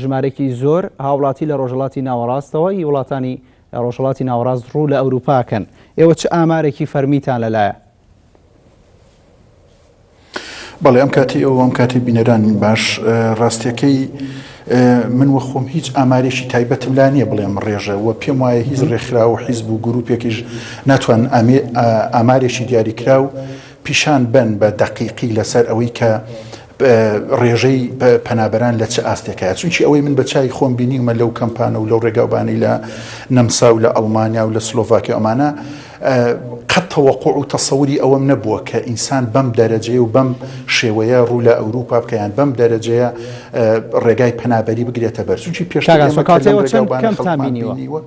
ژمارەیەکی زۆر هاوڵاتی لە ڕۆژهەڵاتی ناوەڕاستەوە ی وڵاتانی ڕۆژهەڵاتی ناوەڕاست ڕوو لە ئەوروپا ئەکەن، ئێوە چ ئامارێکی فەرمیتان لەلایە؟ بەڵێ ئەم کاتی ئێوە و ئەم کاتی بینەرانم باش، ڕاستیەکەی من وە خۆم هیچ ئامارێکی تایبەتم لا نییە بڵێم ڕێژە وە پێم وایە هیچ ڕێکخرا و حیزب و گروپێکیش ناتوان ئامارێکی دیاریکراو پیشان بەن بە دەقیقی لەسەر ئەوەی کە ڕێژەی پەنابەران لە چ ئاستێکایە چونکی ئەوەی من بە چای خۆم بینیمە لەو کەمپانە و لەو ڕێگاوبانی لە نەمسا و لە ئەڵمانیا و لە سلۆڤاکی ئەمانە قەت تەوەقوع و تەسەوری ئەوەم نەبووە کە ئینسان بەم دەرەجەیە و بەم شێوەیە ڕوو لە ئەوروپا بکەیان بەم دەرەجەیە ڕێگای پەنابەری بگرێتە بەر چونکی پێشتاگەسۆکاتەوە چەند کەمتان بینیوە.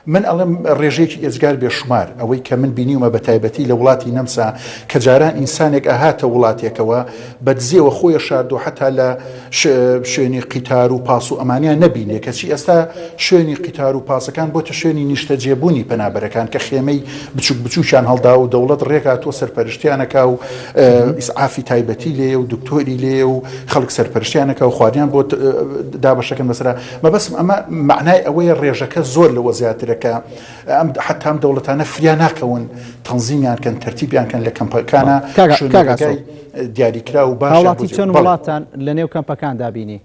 من ئەڵێم ڕێژەیەکی ئێجگار بێ شومار، ئەوەی کە من بینیومە بە تایبەتی لە وڵاتی نەمسا کە جاران ئینسانێک ئەهاتە وڵاتێکەوە بە دزێوە خۆی ئەشاردو حەتا لە شوێنی قیتار و پاس و ئەمانیان نەبینێ کەچی ئێستا شوێنی قیتار و پاسەکان بۆتە شوێنی نیشتەجێ بونی پەنابەرەکان کە خێمەی بچوک بچوکیان هەڵداوە و دەوڵەت ڕێک هاتوە سەرپەرشتیان ئەکا و ئیسعافی تایبەتی لێیە و دکتۆری لێیە و خەڵک سەرپەرشتیان ئەکا و خواردنیان بۆ دابەش ئەکەن بەسەرا مەبەستم ئەمە مەعنای ئەوەیە ڕێژەکە زۆر لەوە زیاترە کە ئەم حەتا ئەم دەوڵەتانە فریا ناکەون تەنزیمیان کەن تەرتیبیان کەن لە کەمپەکانە کاکە- شوێن کاکە بەگای دیاریکرا و باشیان هاوڵاتی بۆ چەند جێ- بەڵێ. وڵاتان لە نێو کەمپەکاندا بینی؟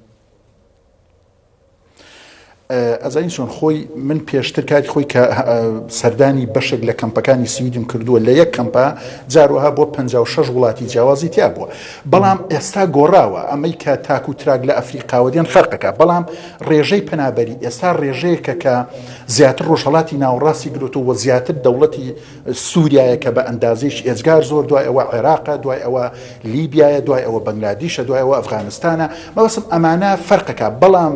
ئەزانی چۆن خۆی من پێشتر کاتی خۆی کە ئه، سەردانی بەشێک لە کەمپەکانی سویدم کردووە لە یەک کەمپە جاروەها بۆ 56 وڵاتی جیاوازی تیا بووە بەڵام ئێستا گۆڕاوە، ئەمەی کە تاک و تراک لە ئەفریقاوە دێن فەرقەکە، بەڵام ڕێژەی پەنابەری ئێستا ڕێژەیەکە کە زیاتر ڕۆژهەڵاتی ناوەڕاستی گرتووە و زیاتر دەوڵەتی سوریایە کە بە ئەندازەیەکی ئێجگار زۆر، دوای ئەوە عێراقە، دوای ئەوە لیبیایە، دوای ئەوە بەنگلادیشە، دوای ئەوە ئەفغانستانە، مەبەستم ئەمانە فەرقەکە، بەڵام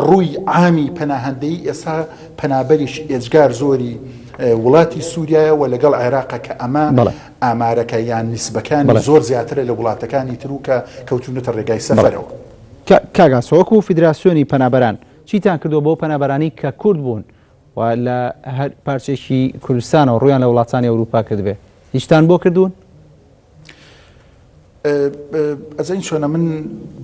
ڕووی عامی پەناهەندەیی ئێستا پەنابەرێکی ئێجگار زۆری وڵاتی سوریایە و لەگەڵ عێراقە کە ئەمە. ئامارەکە یان نیسبەکانی زۆر زیاترە لە وڵاتەکانی تر و کە کەوتوونەتە ڕێگای سەفەرەوە. کاک ئاسۆ وەکو فیدراسیۆنی پەنابەران چیتان کردووە بۆ پەنابەرانی کە کورد بوون و لە هەر پارچەیەکی کوردستانەوە ڕوویان لە وڵاتانی ئەوروپا کردبێ هیچتان بۆ کردوون؟ ئەزانی چۆنە من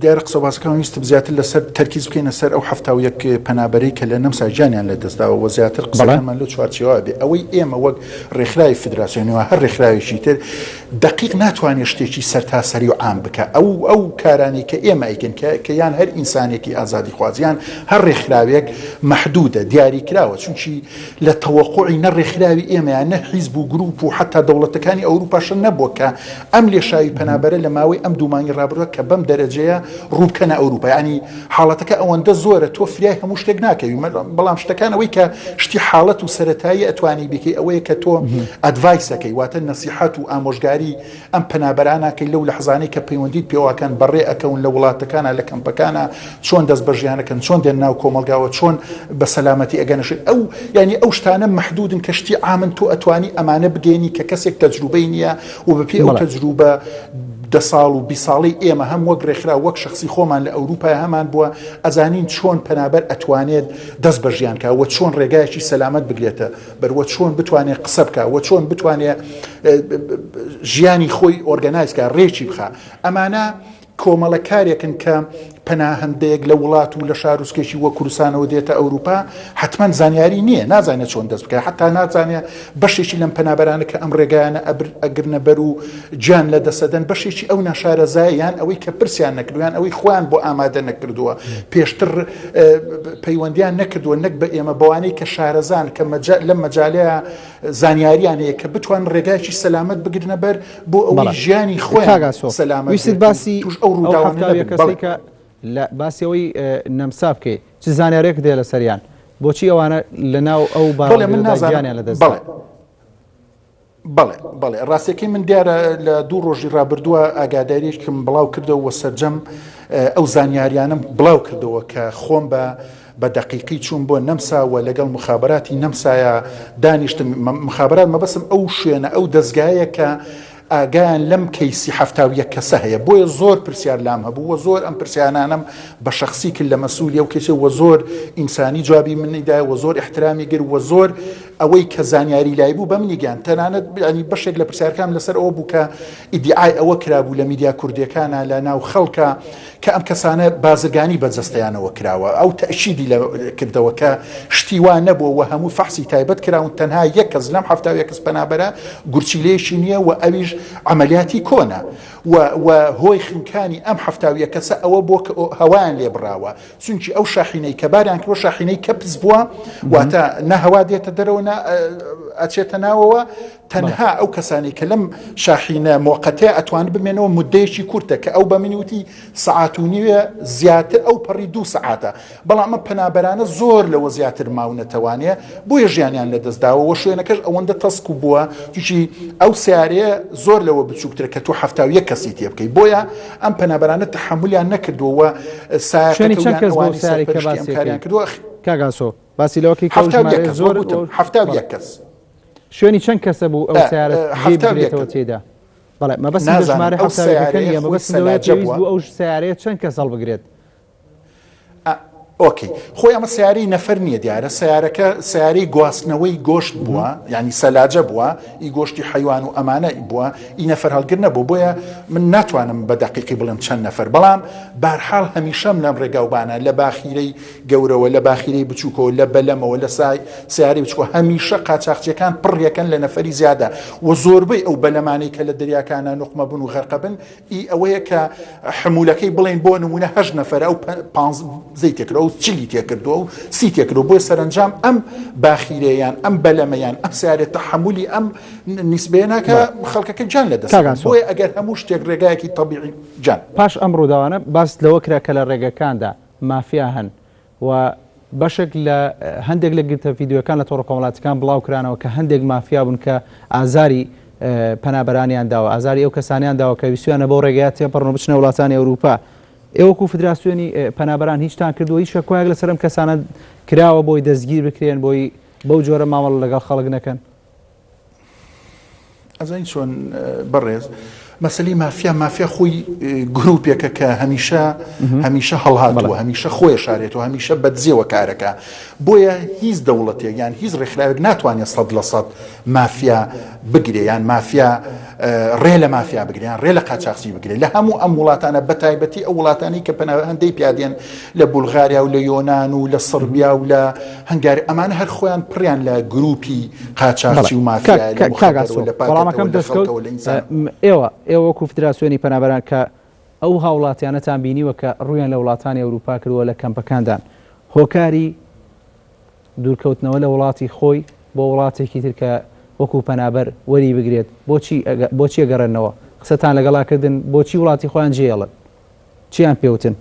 دیارە قسە و باسەکانم ویستم زیاتر لەسەر تەرکیز بکەینە سەر ئەو حەفتا و یەک پەنابەرەی کە لە نەمسا گیانیان لەدەستداوە و زیاتر قسەکانمان لەو چوارچێوە بێ ئەوەی ئێمە وەک ڕێکخراوی فدراسیۆنی و هەر ڕێکخراوێکی تر دەقیق ناتوانێت شتێکی سەرتاسەری و عام بکە ئەو ئەو کارانەی کە ئێمە ئەیکەن کە کە یان هەر ئینسانێکی ئازادی خوازیان هەر ڕێکخراوێک مەحدودە دیاری کراوە چونکی لە تەوەقوعی نە ڕێکخراوی ئێمەیان نە حیزب و گروپ و حەتا دەوڵەتەکانی ئەوروپاشە نەبووە کە ئەم لێشاوی پەنابەرە لە ماوەی ئەم دوو مانگی ڕابردوە کە بەم دەرەجەیە ڕوو بکەنە ئەوروپا یانی حاڵەتەکە ئەوەندە زۆرە تۆ فریای هەموو شتێک ناکەوی بەڵام شتەکان ئەوەی کە شتی حاڵەت و سەتایی ئەتوانی بکەی ئەوەیە کە تۆ ئەدڤایسەکەی واتە نەسیحەت و ئامۆژگاری ئەم پەنابەرانەکەی لەو لە حزانەی کە پەیوەندیت پێواکەن بەڕێ ئەکەون لە وڵاتەکانە لە کەمپەکانە چۆن دەست بە ژیانەکەن چۆن دێن ناو کۆمەلگاوە چۆن بە سەلامەتی ئەگەنەشێت ئەو ینی ئەو شتانە مححدودن کە شتی ئامن تۆ ئەتوانی ئەمانە بگەێنی کە کەسێک تەجروبەی نییە و بە پێی ئەو تەجروبە دە ساڵ و بیست ساڵەی ئێمە هەم وەک رێکخراو وەک شەخسی خۆمان لە ئەوروپا هەمان بوە ئەزانین چۆن پەنابەر ئەتوانێت دەست بە ژیان کا وە چۆن رێگایەکی سەلامەت بگرێتە بەر وە چۆن بتوانێت قسە بکە وە چۆن بتوانێت ژیانی خۆی ئۆرگەنایز کا رێکی بخا ئەمانە کۆمەڵەکارێکن کە پەناهەندەیەک لە وڵات و لە شاروسکێکی وە کوردستانەوە دێتە ئەوروپا حتمما زانیاری نییە نازانێت چۆن دەست بکە حتا نازانێت بەشێکی لەم پەنابەرانە کە ئەم ڕێگایانە ئەبر ئەگرنە بەر و جان لە دەسەدەن بەشێکی ئەو ناشارەزایان ئەوەی کە پرسیان نەکردویان ئەوەی خۆیان بۆ ئامادە نەکردووە پێشتر پەیوەندیان نەکردووە نەک بە ئێمە بەوانەی کە شارەزان کە لەم مەجالەیە زانیاریان هەیە کە بتوان ڕێگایکی سەلامت بگرنە بەر بۆ ئەوەی ژیانی خۆیان سەلامەت بێت و توش ئەو ڕووداوانە نەبن. لە باسی ئەوەی نەمسا بکەی چ زانیارێکت هەیە لەسەریان؟ بۆچی ئەوانە لەناو ئەو بارەگەدا گیانیان لەدەست دا؟ بەڵێ بەڵێ ڕاستەکەی من دیارە لە دوو ڕۆژی ڕابردووە ئاگاداریشتم بڵاو کردەوە سەرجەم ئەو زانیاریانم بڵاو کردەوە کە خۆم بە بە دەقیقی چووم بۆ نەمسا و لەگەڵ موخابەراتی نەمسایا دانیشتم، مخابەرات مەبەستم ئەو شوێنە ئەو دەزگایە کە ئاگایان لەم کەیسی حەفتا و یەک کەسە هەیە بۆیە زۆر پرسیار لام هەبوو و زۆر ئەم پرسیانانەم بە شەخسی کرد لە مەسولی ئەو کەیسە و زۆر ئینسانی جوابی منی دایە و زۆر ئیحترامی گر و زۆر ئەوەی کە زانیاری لای بوو بە منی گەیاند تەنانەت بیانی بەشێک لە پرسیارکام لەسەر ئەوە بوو کە ئیدیعای ئەوە کرابوو لە میدیا کوردیەکانا لە ناو خەڵکا کە ئەم کەسانە بازرگانی بە جەستەیانەوە کراوە، ئەو تەئکیدی لە کردەوە کە شتی وا نەبووە و هەموو فەحسی تایبەت کراون، تەنها یەک کەس لەم حەفتا و یەک کەس پەنابەرە گورچیلەیەکی نییە و ئەویش عەمەلیاتی کۆنە و و هۆی خنکانی ئەم حەفتا و یەک کەسە ئەوە بووە کە هەوایان لێ بڕاوە چونکی ئەو شاحینەی کە باریان کردووە شاحینەی کەپس بووە واتە نە هەوا دێتە دەرەوە نە ئەچێتە ناوەوە تەنها ئەو کەسانەی کە لەم شاحینە مۆقەتەیە ئەتوان بمێنەوە مدەیەکی کورتە کە ئەو بە منی وتی سعات و نیوێ زیاتر ئەو پەڕی دوو سعاتە بەڵام ئەمە پەنابەرانە زۆر لەوە زیاتر ماونەتەوانەیە بۆیە ژیانیان لەدەستداوە وە شوێنەکەش ئەوەندە تەسک و بووە تووشی ئەو سیارەیە زۆر لەوە بچووکترە کە تو هەفتاویە کەسی تێ بکەی بۆیە ئەم پەنابەرانە تحملیان نەکردووە ساێن کردووە کاگاسۆ باسی لەوەکەی زۆر هەفتاویە کەس. شوێنی چەند کەسە بوو ئەو سیارە جێی بگرێتەوە تێیدا؟ بەڵێ مەبەست لە ژمارە ئەو سیارەکە نییە مەبەست لەوەیە پێویست بوو ئەو سیارەیە چەند کەس هەڵبگرێت ئۆکی خۆی ئەمە سیارەی نەفەر نییە دیارە سیارەکە سیارەی گواستنەوەی گۆشت بووە ینی سەلاجە بووە ئی گۆشتی حیوان و ئەمانە بووە ئی نەفەر هەڵگر نەبوو بۆیە من ناتوانم بە دەقیقی بڵێم چەند نەفەر بەڵام بارحاڵ هەمیشەم لەم ڕێگاوبانە لە باخیرەی گەورەوە، لە باخیرەی بچووکەوە، لە بەلەمەوە، لە سەیارەی بچووکەوە، هەمیشە قاچاخچییەکان پڕیەکەن لە نەفەری زیادە و زۆربەی ئەو بەلەمانەی کە لە دەریاکانا نوقمەبن و غەرقەبن ئی ئەوەیە کە حمولەکەی بڵێین بۆ نموونە هەشت نەفەرە ئەو پانزەی تێکردوە ئەو چلی تێکردوە و سی تێکردوە بۆیە سەرەنجام ئەم باخیرە یان ئەم بەلەمە یان ئەم سەیارە تەحمولی ئەم نیسبەیە ناکا خەڵکەکە گیان لە دەست دەدەن بۆیە ئەگەر هەموو شتێک ڕێگایەکی تەبیعی جان. پاش ئەم ڕووداوانە باس لەوە کرا کە لە ڕێگەکاندا مافیا هەن و بەشێک لە هەندێک لە گرتە ڤیدیۆیەکان لە تۆڕە کۆمەڵاتیەکان بڵاو کرانەوە کە هەندێک مافیا بوون کە ئازاری پەنابەرانیان داوە، ئازاری ئەو کەسانیان داوە کە ویستویانە بەو رێگەیە تێپەڕن و بچنە وڵاتانی ئەوروپا. ئێوە وەکو فدراسیۆنی پەنابەران هیچتان کردووە؟ هیچ شەکۆایەک لەسەر ئەم کەسانە کراوە بۆی دەستگیر بکرێن، بۆی بەو جۆرە مامەڵە لەگەڵ خەڵک نەکەن؟ ئەزانی چۆن بەڕێز مەسلی مافیا مافیا خۆی گروپێکە کە هەمیشە هەمیشە هەڵهاتەوە هەمیشە خۆی شارێتەوە هەمیشە بەدزیەوە کارەکە بۆیە هیچ دەوڵەتێک یان هیچ ڕێکخراوێک ناتوانێت سەد لە سەد مافیا بگرێ یان مافیا ڕێ لە مافیا بگریان ڕێ لە قاچاقسی بگرێت لە هەموو ئەم وڵاتانە بە تایبەتی ئەو وڵاتانی کە پەناهەندەی پیادێن لە بولغاریا و لە یۆناان و لە سڕبیا و لە هەنگاری ئەمانە هەر خۆیان پڕیان لە گروپی قاچاخچی و مافیایە لە موخەدەر و لە پاکەتە و لە خەڵتە و لە ئینسان. ئێوە ئێوە وەکو فدراسیۆنی پەنابەران کە ئەو هاوڵاتیانەتان بینیوە کە ڕوویان لە وڵاتانی ئەوروپا کردوە لە کەمپەکاندان هۆکاری دوورکەوتنەوە لە وڵاتی خۆی بۆ وڵاتێکی تر کە وەکو پەنابەر وەری بگرێت بۆچی بۆچی ئەگەڕێنەوە قسەتان لەگەڵا کردن بۆچی وڵاتی خۆیان جێڵن چیان پێ وتن؟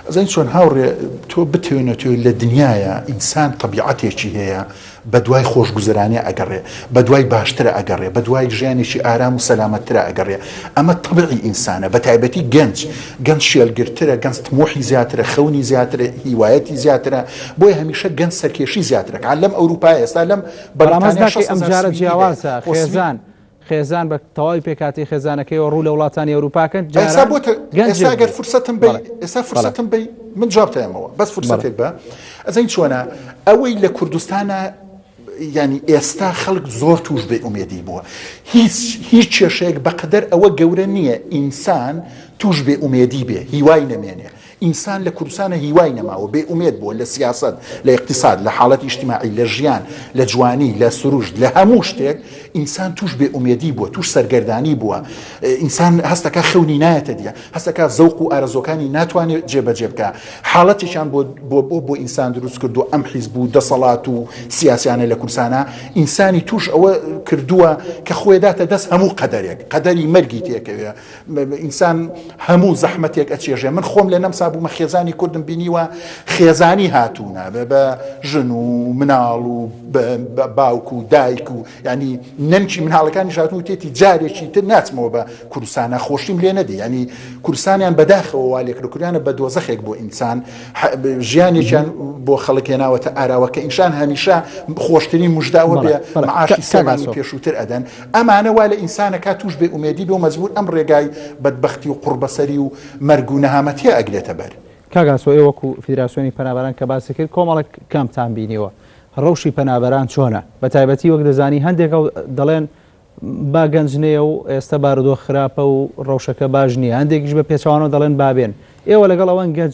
ئەزانی چۆن هاوڕێ تۆ بتەوێت نەتەوێت لە دنیاە ئینسان تەبیعەتێکی هەیە بە دوای خۆشگوزرانێ ئەگەڕێ بە دوای باشترە ئەگەڕێ بە دوای ژیانێکی ئارام و سەلامەتترە ئەگەڕێ ئەمە تەبعی ئینسانە بە تایبەتی گەنج گەنج شێلگرترە گەنج تمۆحی زیاترە خەونی زیاترە هیوایەتی زیاترە بۆی هەمیشە گەنج سەرکێشی زیاترەکان لەم ئەوروپای ئێستا لەم بەڵامەزداکەی ئەم جارە جیاوازە خێزان. خێزان بە تەواوی پێکهاتەی خێزانەکەیەوە ڕوو لە وڵاتانی ئەوروپا کەن ئێستا بۆ ئێستا گەر فرسەتم بی ئێستا فرسەتم بی من جوابتەمەوە بەس فرسەتێک بە ئەزین چۆنە ئەوەی لە کوردستانە ینی ئێستا خەڵک زۆر توش بێ ئومێدی بووە هیچ هیچ کێشەیەک بەقدەر ئەوە گەورە نییە ئینسان توش بێ ئومێدی بێ هیوای نەمێنێ ئینسان لە کوردستانا هیوای نەماوە، بێ ئومێد بووە لە سیاسەت، لە ئیقتیساد، لە حاڵەتی ئیجتیماعی، لە ژیان، لە جوانی، لە سروشت، لە هەموو شتێک ئینسان تووش بێ ئومێدی بووە، تووش سەرگەردانی بووە. ئینسان هەست دەکا خەونی نایەتە دی، هەست دەکا زەوق و ئارەزووەکانی ناتوانێ جێ بەجێ بکا. حاڵەتێکیان بۆ بۆ بۆ بۆ ئینسان دروست کردووە ئەم حیزب و دەسەڵات و سیاسیانە لە کوردستانا ئینسانی تووش ئەوە کردووە کە خۆێ داتە دەست هەموو قەدەرێک، قەدەری مەرگی تێکەوێ. ئینسان هەموو زەحمەتێک ئەچێژێ من خۆم لە نەمسا بوومە خێزانی کوردم بینیوە خێزانی هاتوونە بە بە ژن و مناڵ و باوک و دایک و ینی نەنکی مناڵەکانی ژاتون و تێتی جارێکی تر ناچمەوە بە کوردستانە خۆشیم لێ نەدی ینی کوردستانیان بەداخەوە والێک لە کوریانە بە دۆزەخێک بۆ ئینسان ژیانێکیان بۆ خەڵکێ ناوەتە ئاراوەکە ئینشان هەمیشە خۆشترین مژداوە بێ عاشی سەمانی پێشووتر ئەدەن ئەمانە وا لە ئینسان ئەکا تووش بێ ئومێدی بێ و مەجبوور ئەم ڕێگای بەدبەختی و قوڕبەسەری و مەرگ و نەهامەتیە ئەگرێتە بەر. کاک ئاسۆ ئێوە وەکو فیدراسیۆنی پەنابەران کە باست کرد کۆمەڵێک کامپتان بینیوە ڕەوشی پەنابەران چۆنە بە تایبەتی وەک دەزانی هەندێک دەڵێن با گەنج نەیە و ئێستا بارودۆخ خراپە و ڕەوشەکە باش نییە هەندێکیش بە پێچوانەوە دەڵێن بابێن ئێوە لەگەڵ ئەوەن گەنج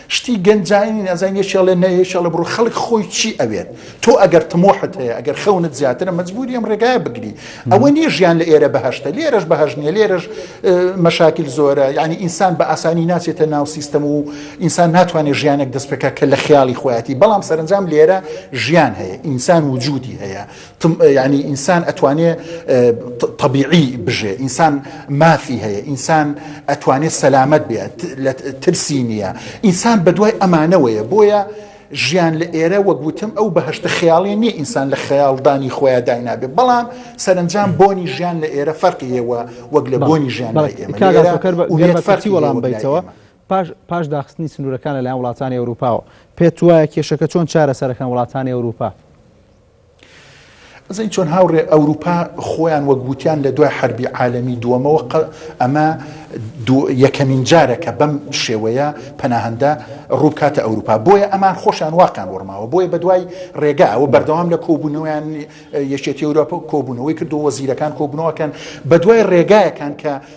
شتی گەنجانی نازانی یەکێ ئەڵێ نە یەکێ ئەڵێ بڕۆ خەڵک خۆی چی ئەوێت تۆ ئەگەر تمۆحت هەیە ئەگەر خەونت زیاترە مەجبوری ئەم ڕێگایە بگری ئەوە نیە ژیان لە ئێرە بەهشتە لێرەش بەهش نیە لێرەش مەشاکیل زۆرە یعنی ئینسان بە ئاسانی ناچێتە ناو سیستەم و ئینسان ناتوانێت ژیانێک دەست پێکە کە لە خیاڵی خۆیەتی بەڵام سەرنجام لێرە ژیان هەیە ئینسان وجودی هەیە تم یانی ئینسان ئەتوانێ تەبیعی بژێ ئینسان مافی هەیە ئینسان ئەتوانێت سەلامەت بێت ترسی نییە ئینسان بەدوای ئەمانەوەیە بۆیە ژیان لە ئێرە وەگوتم ئەو بەهشتە خیاڵێ نییە ئینسان لە خەیاڵدانی خۆیان داینابێ بەڵام سەرنجام بۆنی ژیان لە ئێرە فەرقی هێوە وەک لە بۆنی ژیان فەرتی وەڵام بیتەوە. پاش داخستنی سنوورەکان لەلایەن وڵاتانی ئەوروپاوە پێت وایە کێشەکە چۆن چارە سەرەکان وڵاتانی ئەوروپا ئەزانی چۆن هاوڕێ ئەوروپا خۆیان وەک وتیان لە دوای حربی عالەمی دووەمەوە ئەمە یەکەمین جارەکە بەم شێوەیە پەناهندە ڕووبکاتە ئەوروپا بۆیە ئەمان خۆشیان واقعان وەڕماوە بۆیە بە دوای ڕێگا ئەوە بەردەوام لە کۆبوونەوەیان یەکێتی ئەوروپا کۆبوونەوەی کردو وەزیرەکان کۆبنەوەکەن بە دوای ڕێگایەکان کە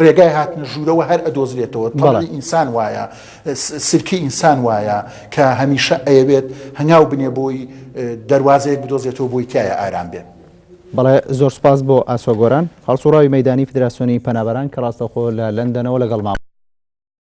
ڕێگای هاتنە ژوورەوە هەر ئەدۆزرێتەوە، تەبعی ئینسان وایە، سلکی ئینسان وایە کە هەمیشە ئەیەوێت هەنگاو بنێ بۆی دەروازەیەک بدۆزێتەوە بۆی تیایا ئارام بێ. بەڵێ زۆر سوپاس بۆ ئاسۆ گۆران، هەڵسوڕاوی مەیدانی فیدراسیۆنی پەنابەران کە ڕاستەوخۆ لە لەندەنەوە لەگەڵمابوو.